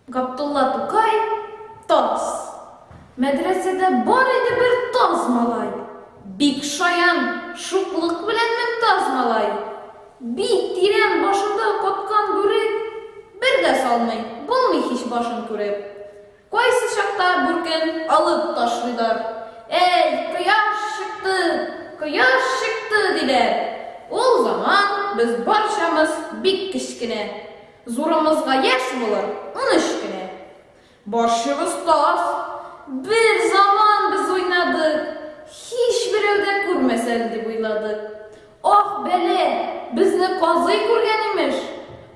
Габдулла Тукай таз. Мәдрәсәдә бар иде бер таз малай. Бик шаян, шуклык белән мең таз малай. Бик тирән башында каткан бүрек, бер дә салмый, булмый һич башын күреп. Кайсы чакта бүркен алып ташлыйлар. Әй, кояш чыкты, кояш чыкты, диләр. Ул заман без барчамыз бик кечкенә. Зурымызга яшь булыр унөч кенә. Барчыбыз таз. Бер заман без уйнадык. Һичберәү дә күрмәсен дип уйладык. Ах, бәлә, безне казый күргән, имеш.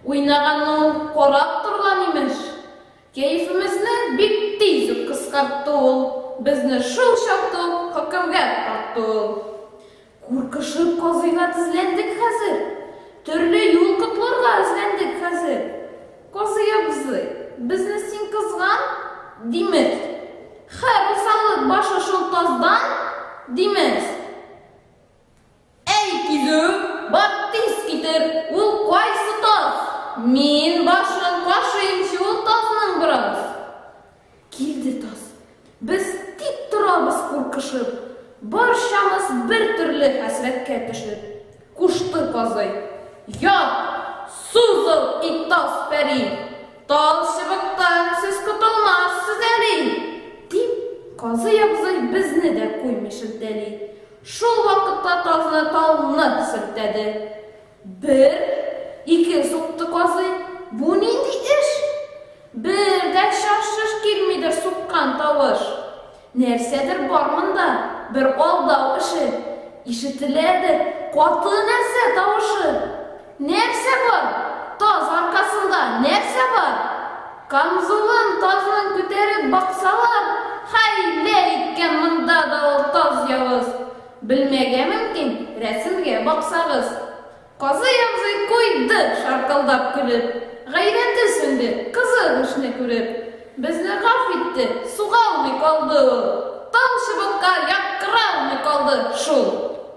Уйнаганны ул карап торган, имеш. Кәефемезне бик тиз үк кыскартты ул, безне шул чакта ук хөкемгә тартты ул. Куркышып казыйга тезләндек хәзер, төрле юл котларга эзләндек хәзер. Казый абзый, безне син кызган, димез. Хә, русалык башы шул таздан, димез. Әй, кизү, бар тиз китер, ул кайсы таз? Мин башын кашыймчы ул тазның бераз. Килде таз. Без тик торабыз куркышып, барчамыз бер төрле хәсрәткә төшеп. Кушты казый. Ят, сузыл ит таз пәри. Тал чыбыктан сез котылмассыз әле. Дип, казый абзый безне дә куймый шелтәли. Шул вакытта тазны тау нык сөртәде. Бер, ике сукты казый, бу нинди эш? Бер дә чаш-чыш килмидер суккан тавыш. Нәрсәдер бар монда, бер алдау эше. Ишетеләдер каты нәрсә тавышы. Нәрсә бар? Таз аркасында нәрсә бар? Камзулын тазнын күтәреп баксалар, хәйлә иткән монда да ул таз явыз. Белмәгә мөмкин, рәсемгә баксагыз. Казый абзый куйды шаркылдап көлеп. Гайрәте сүнде, кызы һушны күреп. Безне гаф итте, сугалмый калды ул. Тал чыбыкка яткыралмый калды шул.